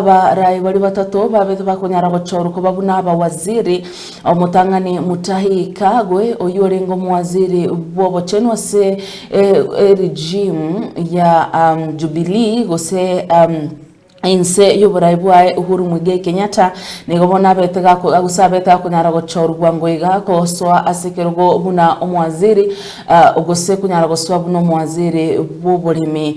Abarai baria batato babete bakonyara gochorwa koba buna abawaziri, Omotang'ani Mutahi Kagwe, oyio orenge omowaziri bw'obochenu ase eregimu ya Jubilee gose inse y'oborai bwaye Uhuru Muigai Kenyatta, nigo bono abete gose abete gakonyara gochorwa bwango iga gosoa ase ekerogo buna omowaziri gose konyara gosoa buna omowaziri bw'oboremi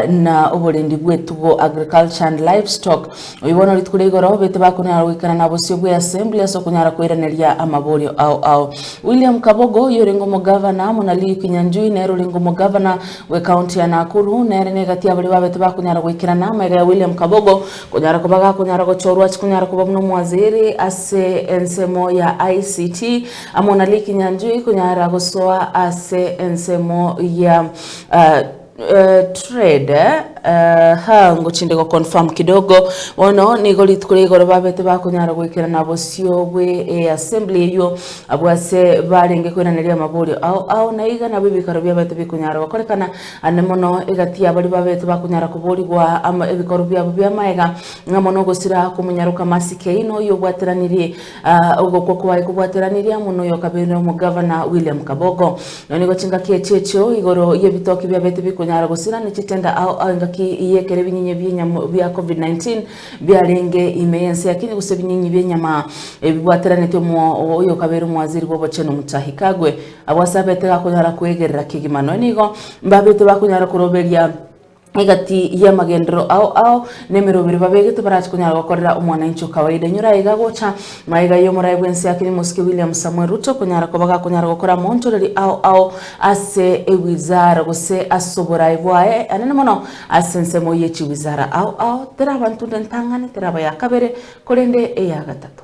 na oborendi bw'etugo, agriculture and livestock. Oyio bono rituko ria igoro bete bakonyara goikana na bosio bwe Assembly ase okonyara koiraneria amaborio ao ao. William Kabogo, oyio orenge omogavana, muna Lee Kinyanjui nere orenge omogavana bwe county ya Nakuru, nere negati abaria babete bakonyara goikerana. Amaiga ya William Kabogo konyara koba gakonyara gochorwa chikonyara koba buna omwaziri ase ensemo ya ICT amo na Lee Kinyanjui konyara gosoa ase ensemo ya Trade ha ngochinde go confirm kidogo bono nigo rituko ria igoro babete bakonyara goikerana bosio bwe e assembly eywo abwo ase barenge koiraneria amaborio ao ao na iga nabo ebikaro biabete bikonyara gokorekana ande mono egati ya baria babete bakonyara koborigwa ama ebikorwa biabo bia maega ng'a mono gosira komonyaroka Mercy Keino oyo obwateranirie Aa ogokwa kwaye kobwateranirie amo noyo okabeire omogavana William Kabogo. Nonya nigo chingaki echi echio igoro y'ebitoki biabete bikonyara gosira ne chitenda ao ao engaki y'ekero ebinyinyi bi'enyama bia Covid-19 biarenge ime y'ense ya Kenya gose ebinyinyi bi'enyama ebibwateranetie omo oyo okabeire omowaziri bw'obochenu Mutahi Kagwe. Abwo ase abete gakonyara koegerera kegima nonya nigo mbabete bakonyara koroberia egati y'amagenderero ao ao, na emerobio ere babegete barache konyara gokorera omwananchi o kawaida. Enyora aiga gocha magega y'omoraia bw'ense ya Kenya omosike William Samoei Ruto konyara koba gakonyara gokora amoonchoreri ao ao ase ewizara gose ase oboraai bwaye anene mono ase ensemo y'echiwizara ao ao teraba ntunde entang'ani, teraba ya kabere korende eya gatato.